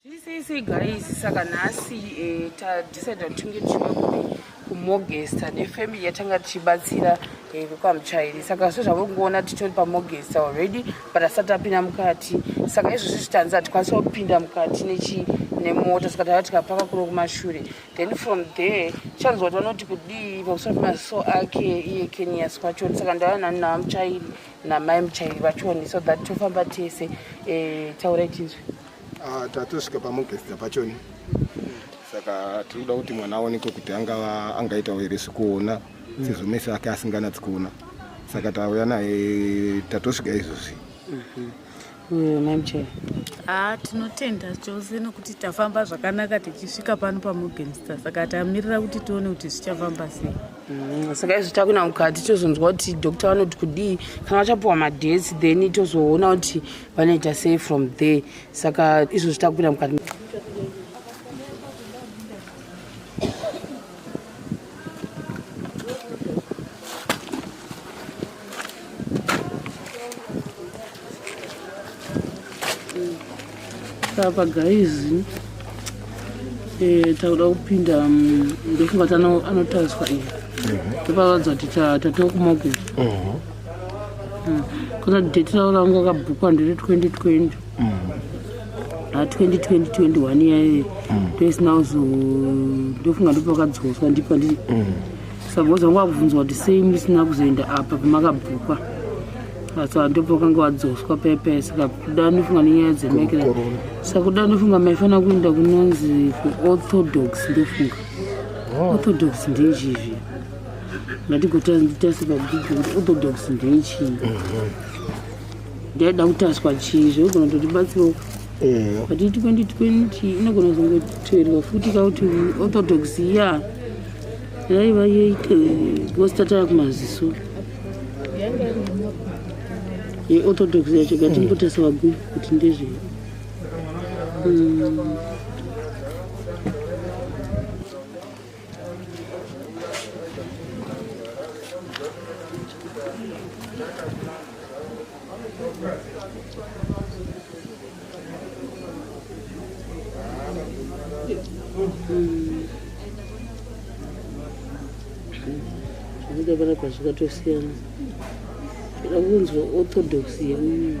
Sisi guys saka nhasi eh, tadecide kuti tinge tichivakupi kumogesta nefamily yatanga tichibatsira eh, kukamuchairi saka so zvave kungoona titori pamogesta already but asati apinda mukati saka izvozvi zvitanzi hatikwanisa kupinda mukati nechi nemota saka tava tikapaka kuno kumashure then from there chanzwa kuti vanoti kudii pamusoro pemaziso ake iye kenias kwacho saka ndava nani navamuchairi namai muchairi vachoni so that tofamba tese eh, taurai tinzwi Ah, tatosvika pamogesta pachoni saka tinoda kuti mwana aonekwe kuti angava angaitawo here zvekuona sezvo mese ake asinganatsi kuona saka tauya naye tatosvika izvozvi mamchero haa tinotenda chose nokuti tafamba zvakanaka tichisvika pano pamogenster saka tamirira kuti tione kuti zvichafamba sei Mm, saka izvi takuenda mukati tozonzwa kuti doctor vanoti kudii kana vachapiwa madhesi then tozoona kuti vanoita sei from there saka izvo zvitakupinda mukati apa gaizi eh, takuda kupinda mm, ndofunga tanotariswa iyi mhm. topavadza kuti tatokuma kupi Hmm. Kuna date ravo ranga kabhukwa ndiri 2020. Mm. Ah, 2020 21 yaye. Mm. Toys now so ndofunga ndipo kadzoswa ndipo ndi. Mm. Saboza so, ngwakubvunzwa kuti sei musina kuzoenda apa pamakabhukwa. Asi ah, ndipo kanga wadzoswa pepe saka kuda ndofunga nenyaya dzemekera. Saka kuda ndofunga maifana kuenda kunonzi ku orthodox ndofunga. Oh. Orthodox ndezvizvi. ngatigotarisa pabhuku kuti orthodox ndeichii mhm. ndaida kutaswa chii zvinogona kuti batsirawo eh. but 2020 inogona kuzongotoerwa futi kauti orthodox ya yaiva yeite vositatara kumaziso yeorthodox yacho gatimbotarisa mm. pabhuku kuti ndezvei mm. zvinoda panapa zvikatosiyana zvinoda kunzwa orthodox yemunhu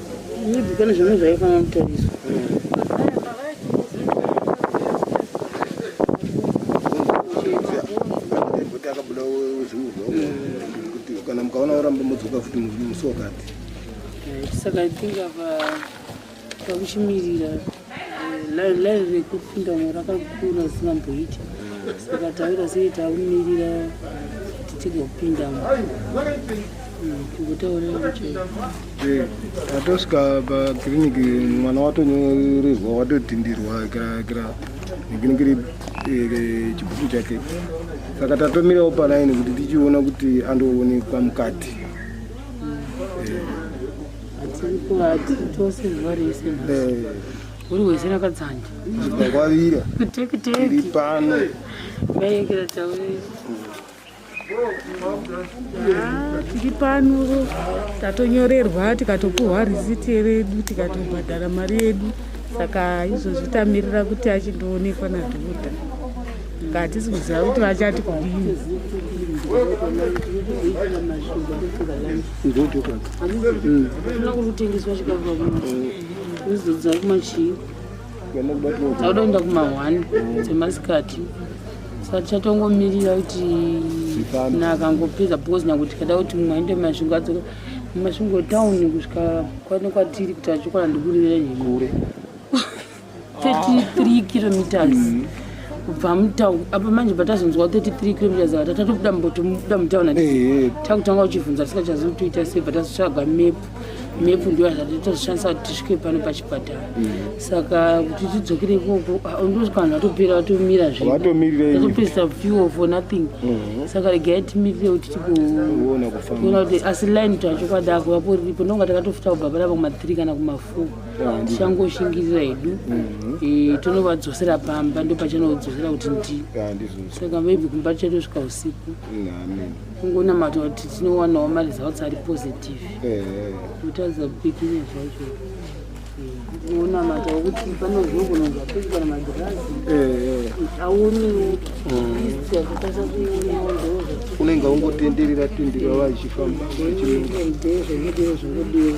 Maybe pane zvimwe zvaifanira kutariswa. kana mukaona oramba modzoka futi musi wakati saka i think apa pakuchimirira Lai rekufunda mo rakakura zimamboita saka taura sei taumirira kuti tigopindamo atosvika pakiriniki mwana watonyorerwa watotindirwa kira kira nekiriniki ri eh, chibhuku chake saka tatomirawo palaini kuti tichiona kuti andoonekwa mukati tiri pano tatonyorerwa tikatopuhwa risiti redu tikatobhadhara mari yedu saka izvozvi tamirira kuti achindoonekwa nadhokota nga hatisi kuziva kuti vachati kudini kutengeswa chikafu zvizodzwa kumachii tauda kuenda kumahwani dzemasikati saka tichatongomirira kuti nakangopedza because nyakuti tikada kuti mumwe aende mumasvingo adzoka mumasvingo town kusvika kwane kwatiri kuti achokwala ndikurira nyekure 33 kilometers mm. kubva mutown apa manje patazonzwa 33 kilometers ava tatatobuda mbotobuda mutown ati eh, eh. takutanga uchivhunza tisikachazivi toita sei bvatazotsvaga map map ndiyo yatazoshandisa kuti tisvike pano pachipatara mm. saka kuti tidzokere ikoko ah, ndosvika vanhu vatopera vatomira zvevatopedzisa fuel for nothing mm-hmm. saka regai timirire kuti tigoona kuti asi line tacho kwadako vapo riripo ndonga takatofuta kubva parapa kuma3 kana kuma4 tichangozhingirira hedu mhm. eh, tonovadzosera pamba ndo pachanodzosera kuti ndi saka maybe kumba tichatosvika usiku kungonamata kuti tinowanawo maresults ari positive kutaridza eh. kupikinya zvacho unamata wekuti panozvogononza kuikana magirazi auniwo akutasa kuionawo ndoo unenge ungotenderera tenderera vachifamba zvinodewo zvinodewo